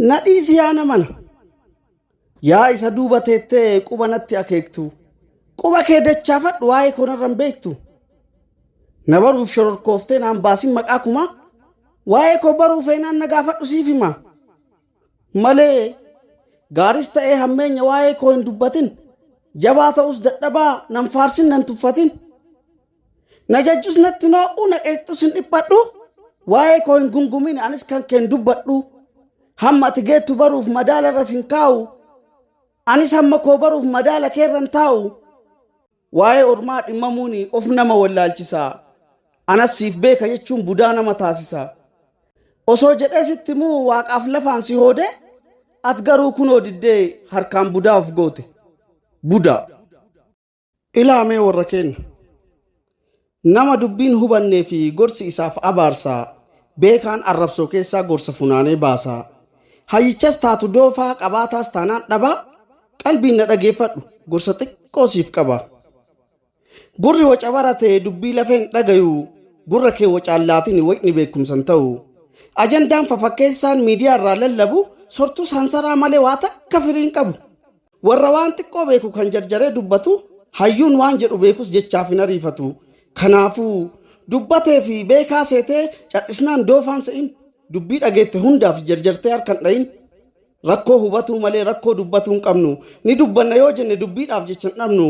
Na dhiisi yaa namana. Yaa isa duuba teettee quba natti akeektu. Quba kee dachaafadhu waa'ee koo narra hin beektu. Na baruuf shororkooftee naan baasin maqaa kumaa. Waa'ee koo baruu feenaan na gaafadhu siif himaa. Malee gaaris ta'ee hammeenya waa'ee koo hin dubbatin. Jabaa ta'us dadhabaa nan faarsin nan tuffatin. Na jajjus natti hin hoo'u, na qeeqxus hin dhiphadhu. Waa'ee koo hin gungumin, anis kan kee hin dubbadhu. Hamma ati geettu baruuf madaala irras hin kaa'u. Anis hamma koo baruuf madaala kee irra hin taa'u. Waa'ee ormaa dhimmamuun of nama wallaalchisa. Anas siif beeka jechuun budaa nama taasisa. Osoo jedhee sitti immoo waaqaaf lafaan si hoode, at garuu kunoo diddee harkaan budaa of goote. Budaa. Ilaa mee warra keenna! Nama dubbiin hubannee fi gorsi isaaf abaarsaa, beekaan arrabsoo keessaa gorsa funaanee baasaa, hayyichas taatu doofaa, qabaataas taanaan dhabaa, qalbiin na dhageeffadhu, gorsa xiqqoo siif qaba. Gurri waca barate dubbii lafee hin dhagayu, gurra kee wacaan laatini wacni beekumsa hin ta'u. Ajandaan fafakkeessaan miidiyaa irraa lallabu sortus hansaraa malee waa takka firii hin qabu. Warra waan xiqqoo beeku kan jarjaree dubbatu, hayyuun waan jedhu beekus jechaaf hin ariifatu. Kanaafuu, dubbatee fi beekaa seetee cadhisnaan doofaa hin se'in. Dubbii dhageette hundaaf jarjartee harka hin dha'in. Rakkoo hubatuu malee rakkoo dubbatuu hin qabnu. Ni dubbanna yoo jenne dubbiidhaaf jecha hin dhabnu.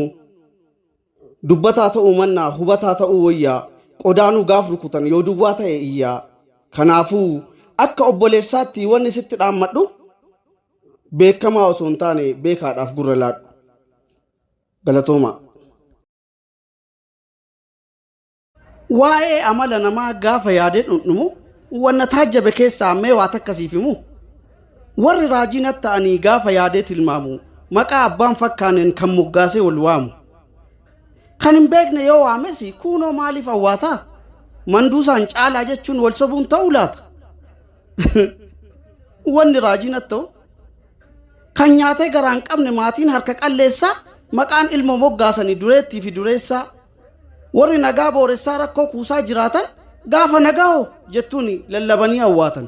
Dubbataa ta'uu mannaa hubataa ta'uu woyya. Qodaanuu gaaf rukutan yoo duwwaa ta'e iyya. Kanaafuu, akka obboleessaatti wanni sitti dhaammadhu, beekamaa osoo hin taane beekaadhaaf gurra laadhu. Galatoomaa. Waa'ee amala namaa gaafa yaadee dhundhumu wanna taajjabe keessaa mee waa takka siif himu. Warri raajii natti ta'anii gaafa yaadee tilmaamu maqaa abbaan fakkaaneen kan moggaasee wal waamu. Kan hin beekne yoo waames kuunoo maaliif awwaataa? Manduusaan caalaa jechuun wal sobuun ta'uu laata? Wanni raajiin attoo kan nyaatee garaa hin qabne maatiin harka qalleessaa maqaan ilmoo moggaasanii dureettii fi dureessaa warri nagaa booressaa rakkoo kuusaa jiraatan gaafa nagaa hoo jettuun lallabanii awwaatan.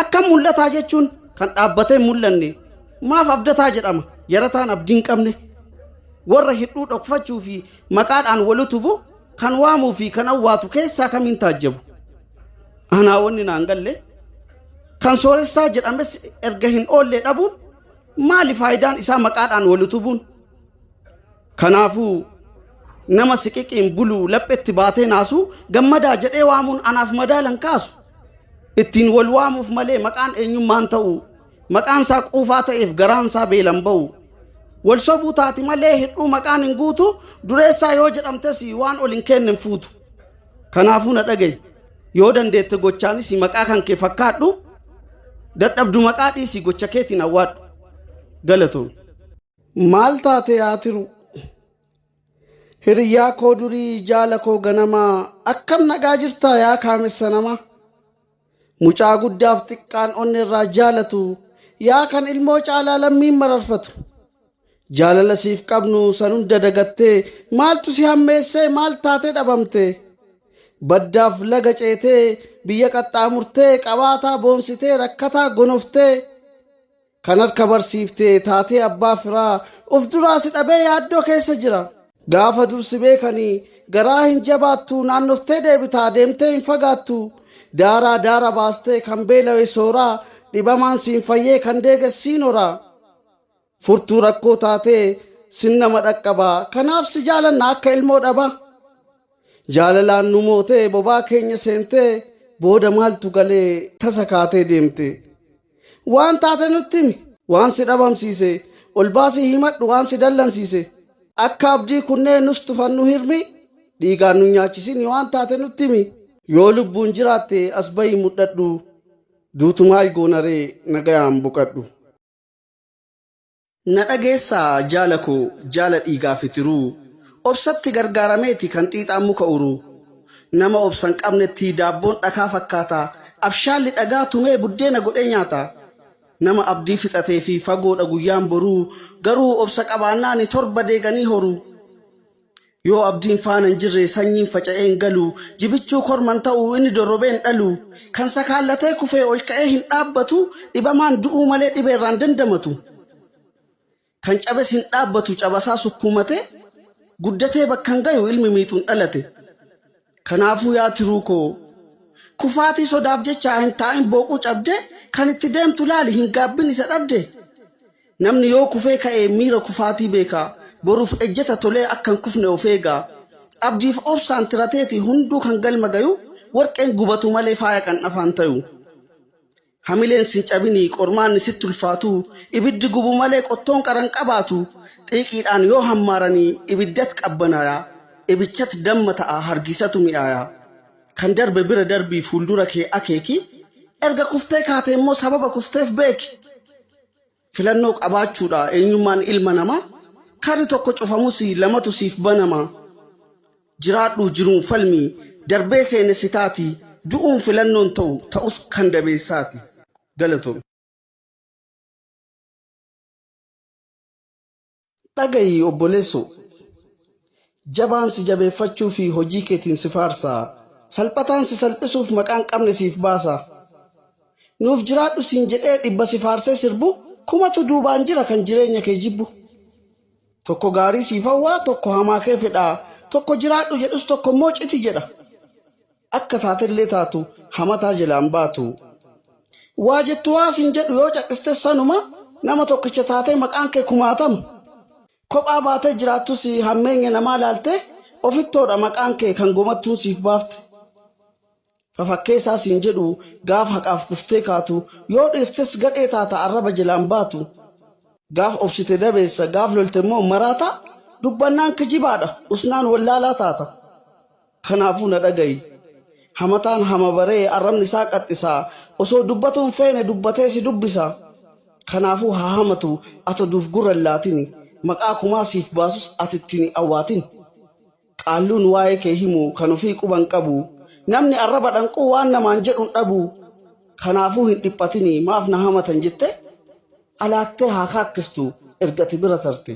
Akkam mul'ataa jechuun kan dhaabbatee hin mul'anne maaf abdataa jedhama yarataan abdii hin qabne warra hir'uu dhokfachuu fi maqaadhaan wal utubu kan waamuu fi kan awwaatu keessaa kamiin taajjabu. Anaa wanni naan galle kan sooressaa jedhames erga hin oollee dhabuun maali faayidaan isaa maqaadhaan wal utubuun. Kanaafuu nama siqiqiin buluu laphetti baatee naasuu gammadaa jedhee waamuun anaaf madaalan kaasu. Ittiin wal waamuuf malee maqaan eenyummaan ta'u maqaan isaa quufaa ta'eef garaan isaa beelan ba'u. Wal sobuu taati malee hir'uu maqaan hin guutu dureessaa yoo jedhamtes waan ol hin keenne hin fuutu. Kanaafuu na dhaga'i. Yoo dandeette gochaanis maqaa kan kee fakkaadhu. Dadhabdu maqaa dhiisi gocha keetiin awwaadhu. Galatoomi. Maal taate yaa tiruu? Hiriyyaa koo durii jaala koo ganamaa akkam nagaa jirtaa yaa kaamessa namaa? Mucaa guddaaf xiqqaan onnerraa jaalatu, yaa kan ilmoo caalaa lammiin mararfatu. Jaalala siif qabnu san hunda dagattee, maaltu si hammeessee maal taatee dhabamtee? Baddaaf laga ceetee, biyya qaxxaamurtee, qabaataa boonsitee, rakkataa gonoftee. Kan harka barsiifte taatee abbaa firaa of duraa si dhabee yaaddoo keessa jira. Gaafa dur si beekani garaa hin jabaattu naannoftee deebita deemtee hin fagaattu daaraa daara baastee kan beelawe soora dhibamaan siin fayyee kan deeges siin hora furtuu rakkoo taatee sin nama dhaqqaba kanaaf si jaalanna akka ilmoo dhaba jaalalaan nu mootee bobaa keenya seentee booda maaltu galee tasa kaatee deemte. Waan taate nutti himi. Waan si dhabamsiise. Ol baasii himadhu waan si dallansiise. Akka abdii kunnee nus tufan nu hirmi. Dhiigaan nun nyaachisini waan taate nutti himi. Yoo lubbuun jiraatte as bahii mudhadhu. Duutu maal goonaree nagayaan boqadhu. Na dhageessaa jaala koo jaala dhiigaafi tiruu Obsatti gargaarameeti kan xiixaan muka uruu Nama obsa hin qabnettii daabboon dhakaa fakkaataa Abshaalli dhagaa tumee buddeena godhee nyaataa Nama abdii fixateefi fagoodha guyyaan boruu Garuu obsa qabaannaani torba deeganii horuu. Yoo abdiin faana hin jirre sanyiin faca'ee hin galu. Jibichuu korma hin ta'u, inni dorrobee hin dhalu. Kan sakaallatee kufee ol ka'ee hin dhaabbatu, dhibamaan du'uu malee dhibee irraa hin dandamatu. Kan cabes hin dhaabbatu, cabasaa sukkuumatee, guddatee bakka hin gayu, ilmi miixuun dhalate. Kanaafuu yaa tiruu koo. Kufaatii sodaaf jechaa hin taa'in booquu cabde kan itti deemtu laali hin gaabbin isa dhabde namni yoo kufee ka'e miira kufaatii beeka boruuf ejjeta tolee akka hin kufne of eega abdiif obsaan tirateeti hunduu kan galma gayu warqeen gubatu malee faaya qandhafaan tayu. Hamileen sin cabinii qormaanni sitti ulfaatu Ibiddi gubu malee qottoon qara hin qabaatu Xiiqiidhaan yoo hammaaranii ibiddat qabbanaaya Ibichat damma ta'a hargiisatu mi'aaya Kan darbe bira darbii fuuldura kee akeeki Erga kuftee kaate immoo sababa kufteef beeki Filannoo qabaachuudha eenyummaan ilma namaa Karri tokko cufamus lamatu siif banama Jiraadhu jiruun falmi darbee seenessitaati Du'uun filannoon ta'u ta'us kan dabeessaati Galatoomi. Dhaga'i obboleessoo! Jabaan si jabeeffachuu fi hojii keetiin si faarsa, salphataan si salphisuuf maqaa hin qabne siif baasa. Nuuf jiraadhu siin jedhee dhibba si faarsee sirbu, kumatu duubaan jira kan jireenya kee jibbu. Tokko gaarii siif hawwa, tokko hamaa kee fedha, tokko jiraadhu jedhus tokko immoo citi jedha. Akka taatellee taatu hamataa jalaa hin baatu. Waa jettu waa siin jedhu yoo caqiste sanuma nama tokkicha taatee maqaan kee kumaatama. Kophaa baatee jiraattus hammeenya namaa laaltee ofittoodha maqaan kee kan gomattuun siif baafte. Fafakkeessaa siin jedhu gaaf haqaaf kuftee kaatu yoo dhiirtes gadhee taata arraba jalaa hin baatu. Gaaf obsite dabeessa gaaf lolte immoo maraataa dubbannaan kijibaadha usnaan wallaalaa taata. Kanaafuu na dhaga'i. Hamataan hama baree arrabni isaa qaxxisa, osoo dubbatuu hin feene dubbatee si dubbisa. Kanaafuu haa hamatu, ati oduuf gurra hin laatini, maqaa kumaa siif baasus ati itti hin awwaatini. Qaalluun waa'ee kee himu kan ofii quba hin qabu, namni arraba dhanquu waan namaan jedhu hin dhabu. Kanaafuu hin dhiphatini, maaf na hamatan jettee alaattee haa kaakkistu erga ati bira tarte.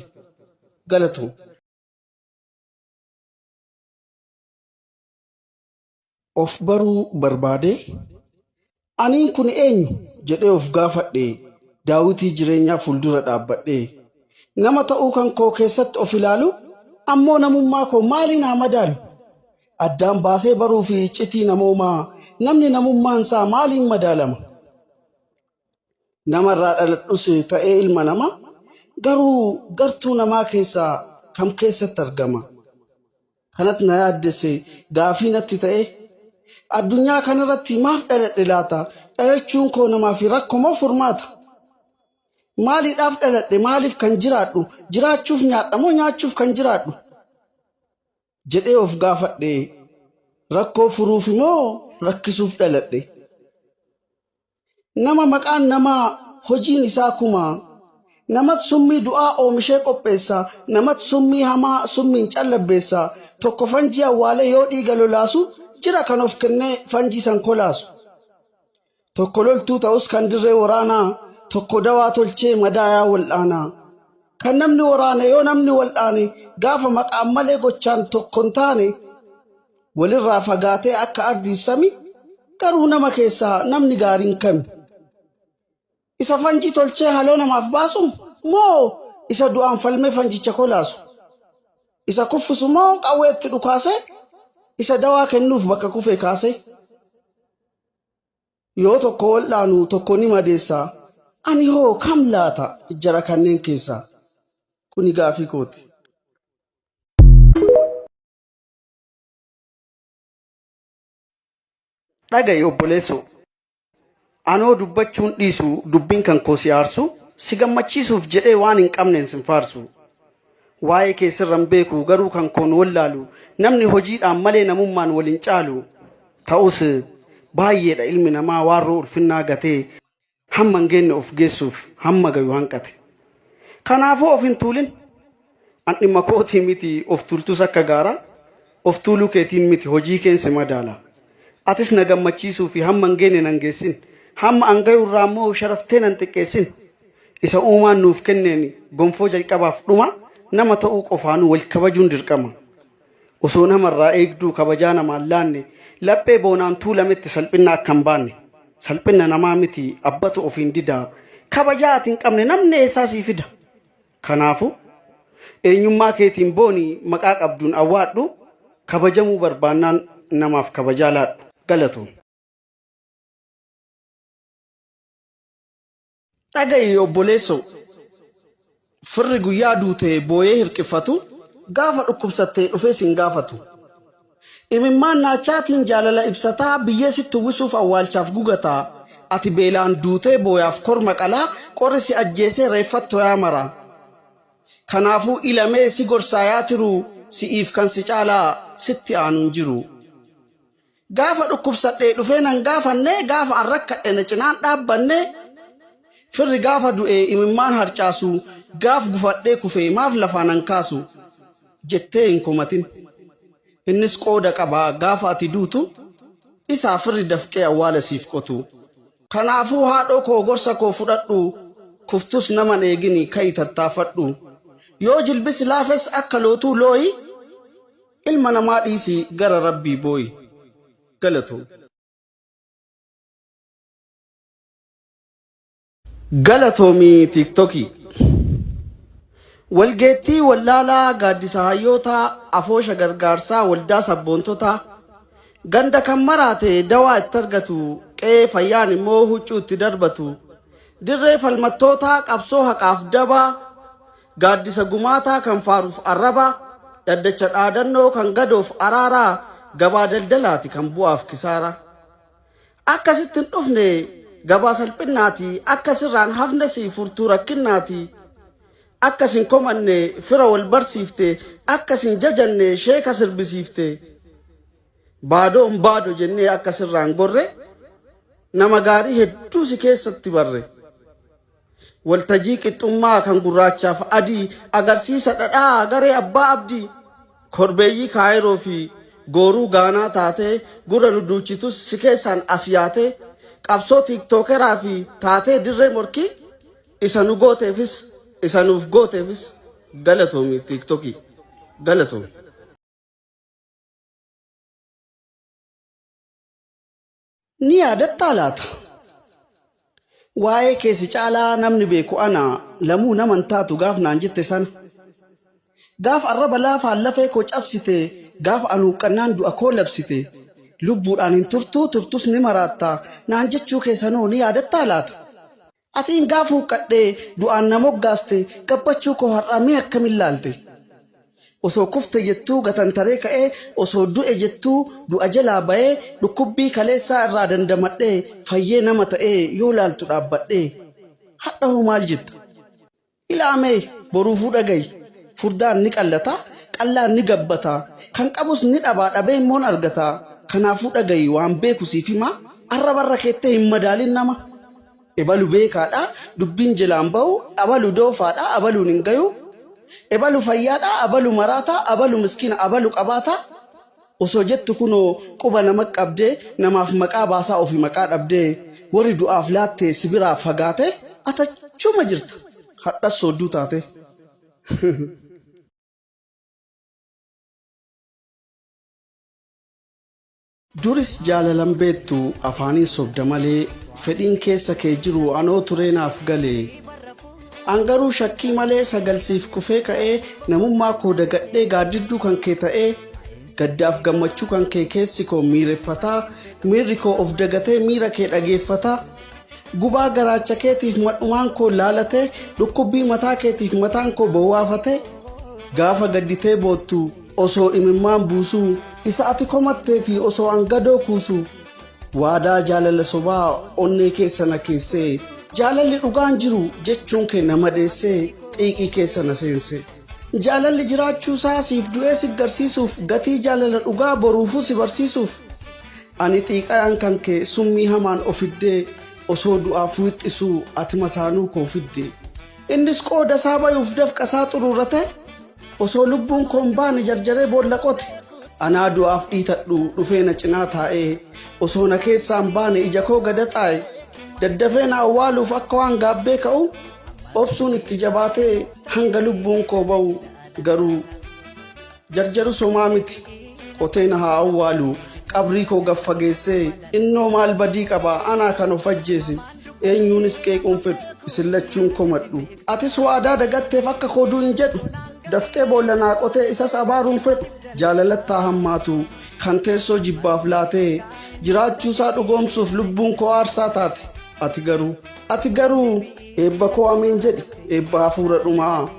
Galatoomi. of baruu barbaadee aniin kun eenyu jedhee of gaafadhe daawitii jireenyaa fuuldura dhaabbadhe nama ta'uu kan koo keessatti of ilaalu ammoo namummaa koo maaliin haa madaalu addaan baasee baruu fi iccitii namoomaa namni namummaan isaa maaliin madaalama namarraa dhaladhus ta'ee ilma namaa garuu gartuu namaa keessaa kam keessatti argama kanatti na yaaddesse gaafii natti ta'e addunyaa kanarratti maaf dhaladhe laata dhalachuun koo namaaf rakko moo furmaata maaliidhaaf dhaladhe maaliif kan jiraadhu jiraachuuf nyaadha moo nyaachuuf kan jiraadhu jedhee of gaafadhe rakkoo furuuf moo rakkisuuf dhaladhe Nama maqaan namaa hojiin isaa kumaa. Namat summii du'aa oomishee qopheessa, namat summii hamaa summiin callabbeessa. Tokko fanjii awwaalee yoo dhiiga lolaasu, jira kan of kennee fanjii san kolaasu. Tokko loltuu ta'us kan dirree waraanaa, tokko dawaa tolchee madaayaa wal'aanaa. Kan namni waraane yoo namni wal'aane, gaafa maqaan malee gochaan tokko hin taane. Walirraa fagaatee akka ardiif sami, garuu nama keessaa namni gaariin kami? Isa fanjii tolchee haloo namaaf baasu moo isa du'aan falmee fanjicha kolaasu? Isa kuffisu moo qawwee itti dhukaasee isa dawaa kennuuf bakka kufee kaasee? Yoo tokko wal'aanu tokko ni madeessa, ani hoo kam laata jara kanneen keessaa? Kuni gaafii kooti. dhaga'i obboleessoo anoo dubbachuun dhiisu dubbiin kan koo si aarsu si gammachiisuuf jedhee waan hin qabneen sin faarsu waa'ee kee sirran beeku garuu kan koon wallaalu namni hojiidhaan malee namummaan wal hin caalu ta'us baay'eedha ilmi namaa waarroo ulfinnaa gatee Hamma hin geenne of geessuuf hamma gayu hanqate. Kanaafuu of hin tuulin. An dhimma kootii miti of tuultus akka gaaraa of tuuluu keetiin miti hojii keen si madaala. Atis na gammachiisuu fi hamma hin geenne nan geessin. Hamma an gayu irraa immoo of sharaftee nan xiqqeessin. Isa uumaan nuuf kenneen gonfoo jalqabaaf dhumaa nama ta'uu qofaanuu wal kabajuun dirqama. Osoo nama irraa eegduu kabajaa namaan laanne laphee boonaan tuulametti salphinna akka hin baanne. Salphinna namaa miti abbatu ofiin dida. Kabajaa ati hin qabne namni eessaa sii fida? Kanaafu, eenyummaa keetiin booni maqaa qabduun awwaadhu, kabajamuu barbaannaan namaaf kabajaa laadhu. Galatoomi. Dhaga'i obboleessoo! Firri guyyaa duute booyee hirqiffatu, gaafa dhukkubsatte dhufee sin gaafatu. Imimmaan naachaatiin jaalala ibsataa, biyyee sitti uwwisuuf awwaalchaaf gugataa. Ati beelaan duutee booyaaf korma qalaa, qorri si ajjeesee reeffat toyaa maraa. Kanaafuu ila mee si gorsaa yaa tiruu, si'iif kan si caalaa sitti aanu hin jiru. Gaafa dhukkubsadhee dhufee nan gaafanne, gaafa an rakkadhe na cinaan dhaabbanne, firri gaafa du'e imimmaan harcaasu, gaaf gufadhee kufe maaf lafaa nan kaasu? jettee hin komatin. Innis qooda qaba gaafa ati duutu, isaa firri dafqee awwaala siif qotu. Kanaafuu haadhoo koo gorsa koo fudhadhu, kuftus naman eegini ka'i tattaafadhu. Yoo jilbi si laafes akka lootuu looyi. Ilma namaa dhiisii gara Rabbii booyi. Galatoom. Galatoomii tiiktokii. Walgeettii wallaalaa gaaddisa hayyootaa afoosha gargaarsaa waldaa sabboontotaa ganda kan maraate dawaa itti argatu qe'ee fayyaan immoo huccuu itti darbatu dirree falmattootaa qabsoo haqaaf dabaa Gaaddisa gumaataa kan faaruuf arrabaa, dhaddacha dhaadannoo kan gadoof araaraa, gabaa daldalaati kan bu'aaf kisaaraa. Akka sitti hin dhufne gabaa salphinnaati, akka sirraa hin hafnes furtuu rakkinnaati. Akka sin komanne fira wal barsiifte, akka sin jajanne sheeka sirbisiifte. Baadoon baado jennee akka sirraa hin gorre, nama gaarii hedduu si keessatti barre. Waltajii qixxummaa kan gurraachaaf adii agarsiisa dhadhaa garee abbaa abdii. Korbeeyyii Kaayiroo fi gooruu Gaanaa taatee gurra nu duuchitus si keessaan as yaatee qabsoo tiiktookeraa fi taatee dirree morkii isa nu gooteefis isa nuuf gooteefis galatoomi tiiktokii. Galatoomi. Ni yaadattaa laata? Waa'ee kee si caalaa namni beeku ana, Lamuu nama hin taatu gaaf naan jette sana. Gaaf arraba laafaan lafee koo cabsite, gaaf an huuqqannaan du'a koo labsite, lubbuudhaan hin turtuu turtus ni maraatta naan jechuu kee sanoo ni yaadattaa laata? Ati ingaa fuuqqadhee du'aan na moggaaste gabbachuu koo har'aa mee akkamin laalte? Osoo kufte jettuu gatantaree ka'ee osoo du'e jettuu du'a jalaa ba'ee dhukkubbii kaleessaa irraa dandamadhee fayyee nama ta'ee yoo laaltu dhaabbadhee. Hadha hoo maal jetta? Ilaa mee boruufuu dhagayi, furdaan ni qallata, qallaan ni gabbata, kan qabus ni dhabaa, dhabee immoo hin argata. Kanaafuu dhagayi, waan beeku siif himaa, arraba irra keettee hin madaalin nama. Ebalu beekaa dha, dubbiin jelaa hin bahu, abalu doofaa dha, abaluun hin gayu, ebalu fayyaa dha, abalu maraataa, abalu miskiina, abalu qabaataa. Osoo jettu kunoo quba nama qabdee namaaf maqaa baasaa ofi maqaa dhabdee warri du'aaf laatte si biraa fagaatee at achuma jirta hadhas soodduu taatee. Duris jaalalan beettu afaanin sobda malee fedhiin keessa kee jiru anoo turee naaf galee. An garuu shakkii malee sagal siif kufee ka'ee namummaa koo dagadhee gaaddidduu kan kee ta'ee gaddaaf gammachuu kan kee keessi koo miireffataa miirri koo of dagatee miira kee dhageeffataa gubaa garaacha keetiif madhumaan koo laalatee dhukkubbii mataa keetiif mataan koo bowwaafatee gaafa gadditee boottu osoo imimmaan buusuu isa ati komatteefi osoo an gadoo kuusuu Waadaa jaalala sobaa onnee keessa na keessee Jaalalli dhugaan jiru jechuun kee na madeessee xiiqii keessa na seensee Jaalalli jiraachuu isaa siif du'ee si garsiisuuf Gatii jaalala dhugaa boruufuu si barsiisuuf Ani xiiqayaan kan kee summii hamaan ofiddee Osoo du'aaf wixxisuu ati masaanuu koo fiddee Innis qooda isaa bayuuf dafqa isaa xururratee Osoo lubbuun koo hin baane jarjaree boolla qote. Anaa du'aaf dhiitadhu dhufee na cinaa taa'ee osoo na keessaa hin baane ija koo gada xaa'e daddafee na awwaaluuf akka waan gaabbee ka'u obsuun itti jabaatee hanga lubbuun koo ba'u garuu jarjaru somaa miti qotee na haa awwaalu qabrii koo gad fageessee innoo maal badii qaba anaa kan of ajjeese eenyuunis qeequun fedhu isin lachuun komadhu. Atis waadaa dagatteef akka koo du'i hin jedhu. Daftee boolla naa qotee isas abaaruu hin fedhu. Jaalalattu haa hammaatu kan teessoo jibbaaf laatee jiraachuusaa dhugoomsuuf lubbuun koo aarsaa taate. Ati garuu. Ati garuu. Eebba koo ameen jedhi eebba hafuura dhumaa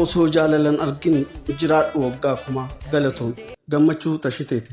osoo jaalalan argin jiraadhu waggaa kumaa. Galatoomi. Gammachuu Tashiteeti.